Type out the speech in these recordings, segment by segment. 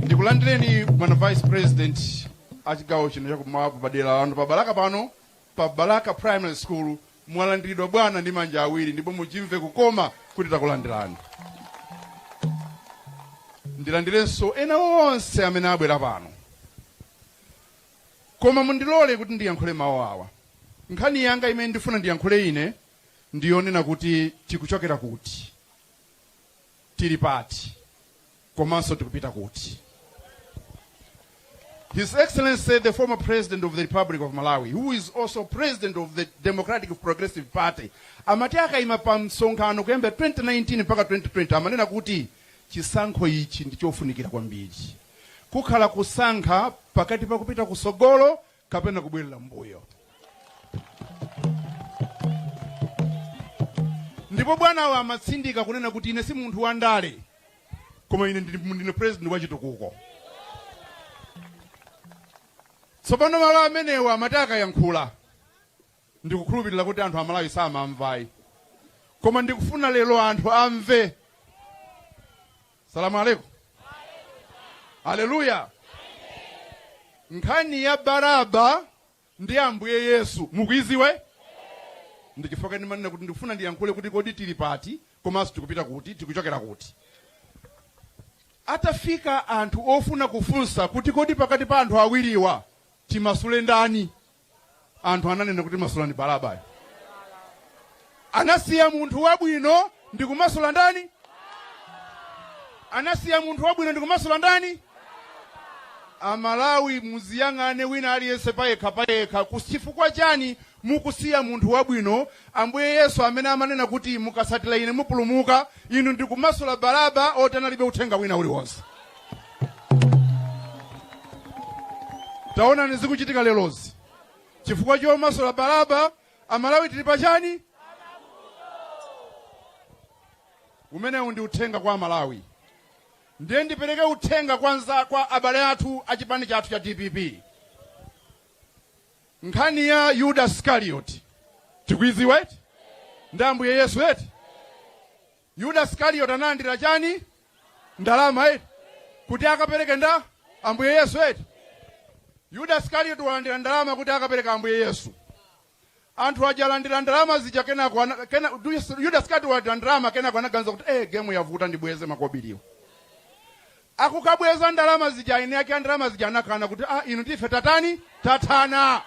ndikulandireni bwana vice president a chigawo chino chakummawa m'dera lanu pa balaka pano pa balaka primary school mwalandiridwa bwana ndi manja awiri ndipo muchimve kukoma kuti takulandirani ndilandirenso ena onse amene abwera pano koma mundilole kuti ndiyankhule mawu awa nkhani yanga imene ndifuna ndiyankhule ine ndiyonena kuti tikuchokera kuti tili pati komanso tikupita kuti His Excellency, the former President of the Republic of Malawi, who is also President of the Democratic Progressive Party, amati akaima pa msonkhano kuyamba 2019 mpaka 2020 amanena kuti chisankho ichi ndi chofunikira kwambiri kukhala kusankha pakati pa kupita kusogolo kapena kubwerera mbuyo ndipo bwanawa amatsindika kunena kuti ine si munthu wa ndale koma ine ndili- ndine president wa chitukuko tsopano mawu amenewa amati akayankhula ndikukhulupilila kuti anthu amalawi samamva ayi koma ndikufuna lelo anthu amve salamu alaikum haleluya nkhani ya baraba ndi ambuye yesu mukuiziwa eti ndichifukwa ndimanena kuti ndikufuna ndiyankhule kuti kodi tili pati komanso tikupita kuti tikuchokera kuti atafika anthu ofuna kufunsa kuti kodi pakati pa anthu awiriwa timasule ndani anthu ananena kuti masulani balabayo anasiya munthu wabwino ndi kumasula ndani anasiya munthu wabwino ndi kumasula ndani amalawi muziyang'ane wina aliyense payekha payekha Ku- chifukwa chani mukusiya munthu wabwino ambuye yesu amene amanena kuti mukasatira ine mupulumuka inu ndikumasula balaba oti analibe uthenga wina uliwonse taonani zikuchitika lerozi chifukwa chomasula balaba amalawi tili pachani umenewu ndi uthenga kwa amalawi ndiye ndipereke uthenga kwa nza kwa abale athu a chipani chathu cha dpp nkhani ya yuda iskarioti tikuiziwa eti ndi ambuye yesu eti Yuda Skariyoti analandira chani? Ndalama eti? Kuti akapereke nda Ambuye Yesu eti? Yuda Skariyoti walandira ndalama kuti akapereke Ambuye Yesu. Anthu aja alandira ndalama zija kenako ana- kena, Yuda Skariyoti walandira ndalama kenako anaganiza kuti eh, gemu yavuta ndibweze makobiriwo. Akukabweza ndalama zija eni ake a ndalama zija anakana kuti ah, inu ndife tatani tathana.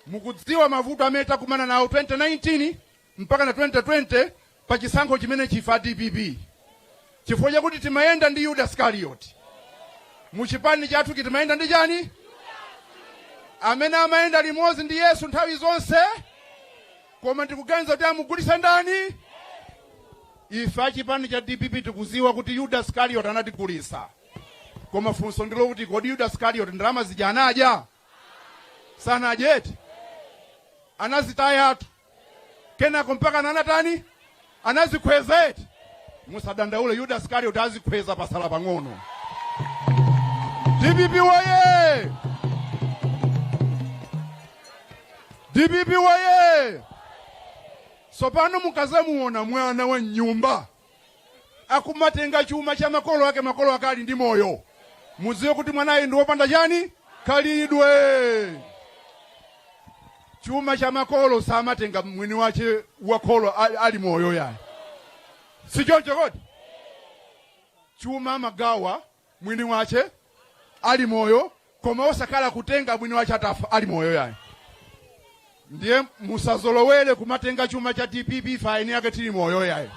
Mukudziwa mavuto amene tinakumana nawo 2019 mpakana 2020 pa chisankho chimenechi ife a dpp? Chifukwa chakuti timayenda ndi Yuda Isikaliyoti. Mu chipani chathuchi timayenda ndi chani? Amene amayenda limodzi ndi Yesu nthawi zonse, koma ndikuganiza kuti amugulitsa ndani? Ife a chipani cha dpp tikudziwa kuti Yuda Isikaliyoti anatigulitsa, koma funso ndi lokuti kodi Yuda Isikaliyoti ndalama zija anadya? sanadye eti anazitayatu kenako mpaka anatani anadzikhweza eti musadandaule yuda isikalioti adzikhweza patsala pang'ono dpp woye dpp woye sopano mukadzamuona mwana wa m'nyumba akumatenga chuma cha makolo ake makolo ake ali ndi moyo mudziwe kuti mwanayi ndi wopanda chani khalidwe chuma cha makolo samatenga mwini wache wakholo ali moyo yayi sichocho kodi chuma amagawa mwini wache ali moyo koma osakhala kutenga mwini wache atafa ali moyo yayi ndiye musadzazolowere kumatenga chuma cha dpp ife eni ake tili moyo yayi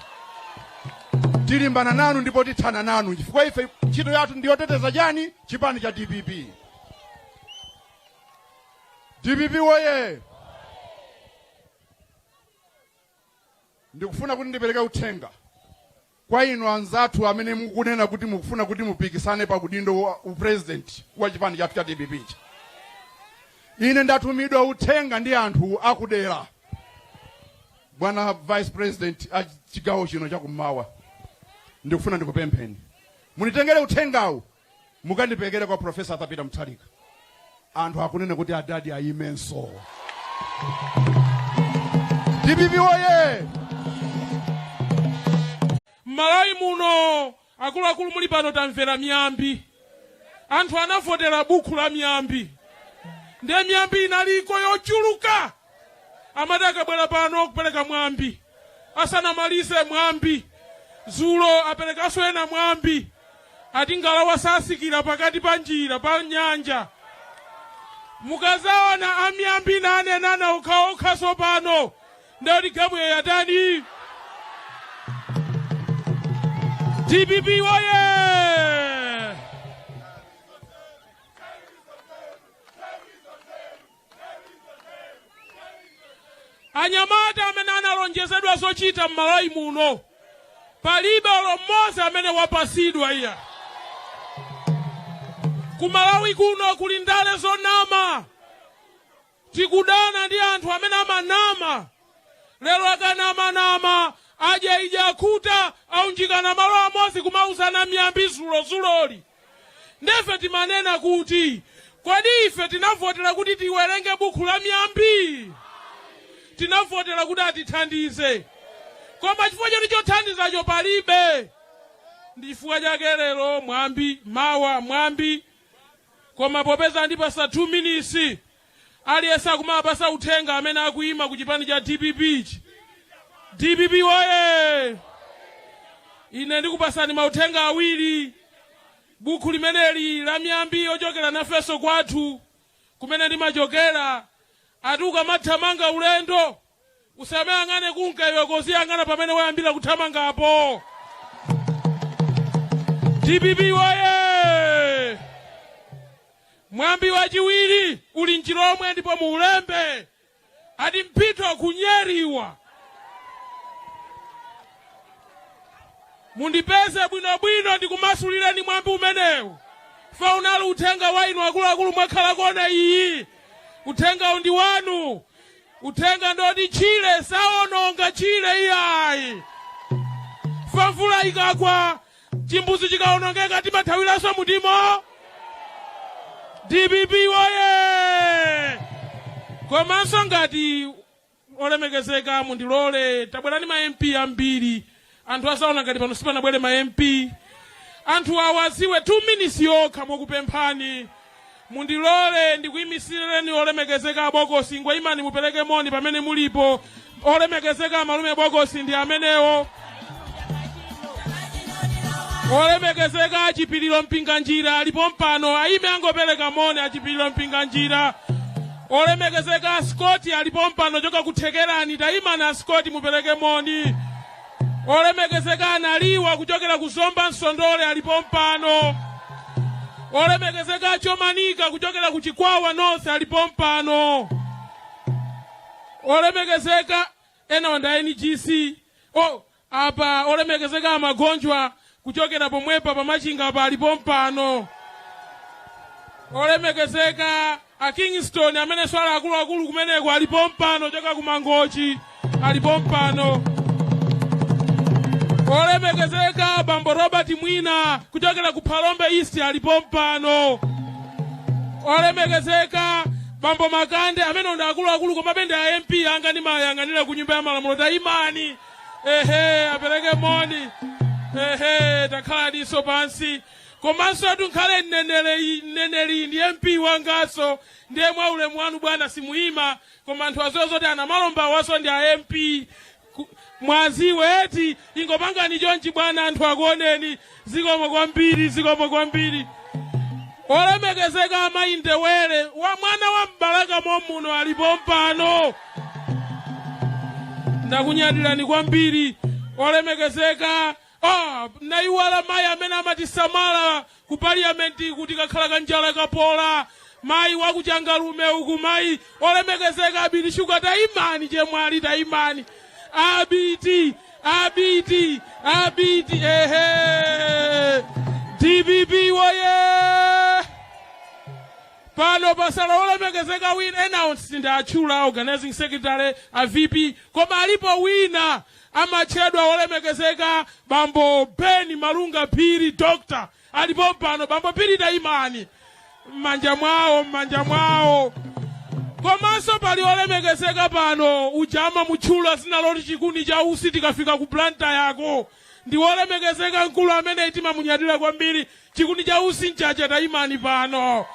tilimbana nanu ndipo tithana nanu chifukwa ife ntchito yathu ndiyoteteza chani chipani cha dpp dpp woye ndikufuna kuti ndipereke uthenga Kwa inu anzathu amene mukunena kuti mukufuna kuti mupikisane pa udindo wa u president wa chipani chathu cha dpp ichi, ine ndatumidwa uthenga ndi anthu a ku dera, bwana vice president a chigawo chino cha kummawa, ndikufuna ndikupempheni munditengere uthengawu mukandiperekere kwa profesa arthur peter mutharika anthu akunena kuti adadi ayimenso dpp woye m'malawi muno akuluakulu muli pano tamvera miyambi anthu anavotera bukhu la miyambi ndiye miyambi inaliko yochuluka amati akabwera pano kupereka mwambi asanamalize mwambi dzulo aperekanso ena mwambi ati ngalawa satsikira pakati pa njira pa nyanja mukadzaona amiyambi akunenana okhaokha sopano ndiye kuti gemu yatani dpp woye anyamata amene analonjezedwa zochita m'malawi muno palibe olo mmodzi amene wapasidwa iya kumalawi kuno kuli ndale zonama tikudana ndi anthu amene amanama lero akanamanama adya idya akhuta aunjikana malo amodzi kumauzana miyambi zulozuloli Nde ife timanena kuti, Kodi ife tinavotera kuti tiwerenge bukhu la Miyambi? Tinavotera kuti atithandize. Koma chifukwa choti chothandizacho palibe, ndi chifukwa chake lero mwambi, mawa mwambi, koma popeza andipasa 2 minisi, Aliyense akumawapasa uthenga amene akuyima ku chipani cha dpp ichi. Dpp woyee! Ine ndikupasani mauthenga awiri. Bukhu limeneli la miyambi yochokera nafenso kwathu kumene ndimachokera ati ukamathamanga ulendo usamayang'ane kunka iwe koziyang'ana pamene wayambira kuthamangapo dpp woye mwambi wachiwiri uli mchilomwe ndipo muulembe ati mpito kunyeriwa mundipeze bwinobwino ndikumasulireni mwambi umenewu fa unali uthenga wa inu akuluakulu mwakhala kona iyi uthengawu ndi wanu Uthenga ndi oti tchire sawononga tchire iyayi. Chifukwa mvula ikagwa, chimbudzi chikawonongeka timathawiranso mutimo. DPP woye! Komanso ngati olemekezeka mundilole tabwerani ma MP ambiri anthu azaona ngati pano sipanabwere ma mp anthu awaziwe 2 minutes yokha mokupemphani mundilole ndikuyimisireni olemekezeka abokosi ngwa imani mupereke moni pamene mulipo olemekezeka amalume bokosi ndi amenewo olemekezeka achipiliro mpinganjira ali pompano ayime angopereka moni achipiliro mpinganjira Olemekezeka a Scott ali pompano ochoka ku Thekerani, taimani a Scott mupereke moni. Olemekezeka a Naliwa kuchokera ku Zomba Nsondole ali pompano. Olemekezeka a Chomanika kuchokera ku Chikwawa North ali pompano. Olemekezeka enawa nda NGC. Oh, Apa olemekezeka a Magonjwa kuchokera pomwepa pa Machinga pa ali pompano. Olemekezeka a Kingston a Namachekecha akuluakulu kumeneko ali pompano kuchoka ku Mangochi ali pompano. Olemekezeka bambo Robert Mwina kuchokera ku Phalombe East ali pompano. Olemekezeka bambo Makande amene ndi akuluakulu komabe ndi a MP anga ndimayang'anira ku nyumba ya malamulo tayimani. ehe apereke moni ehe takhalaniso pansi komanso atu nkhale mneneri ndi mp wangaso ndiye mwa ulemu wanu bwana simuyima koma anthu aziwe zoti anamalomba awaso ndi a mp mwaziwa eti ingopangani chonchi bwana anthu akuoneni zikomo kwambiri zikomo kwambiri olemekezeka amayi Ndebele wa mwana wa m'Balaka momuno ali pompano ndakunyadirani kwambiri olemekezeka ah, ndayiwala mayi amene amatisamala ku parliamenti kuti kakhala kanjala kapola mayi wa ku Changalume uku mayi olemekezeka abiti shuga tayimani chemwali tayimani abiti Abiti, abiti, ehe! DPP woye! Pano patsala olemekezeka wina announcer watchula organizing secretary a VP koma alipo wina amatchedwa olemekezeka bambo Ben Malunga Phiri doctor Ali pompano bambo Phiri tayimani m'manja mwawo m'manja mwawo komanso pali olemekezeka pano uja mamutchula zina loti chikuni cha usi tikafika ku planta yako ndi wolemekezeka mkulu amene timamunyadira kwambiri chikuni cha usi Mchacha tayimani pano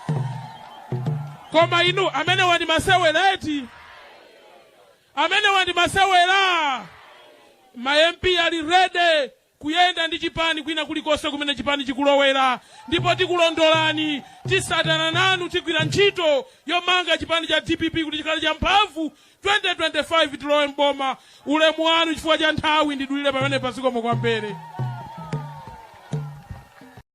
koma inu amenewa ndi masewera eti amenewa ndi masewera ma mp ali ready kuyenda ndi chipani kwina kulikonse kumene chipani chikulowera ndipo tikulondolani titsatana nanu tigwira ntchito yomanga chipani cha dpp kuti chikhale cha mphamvu 2025 tilowe mboma ulemu wanu chifukwa cha nthawi ndidulire pamenepa zikomo kwambiri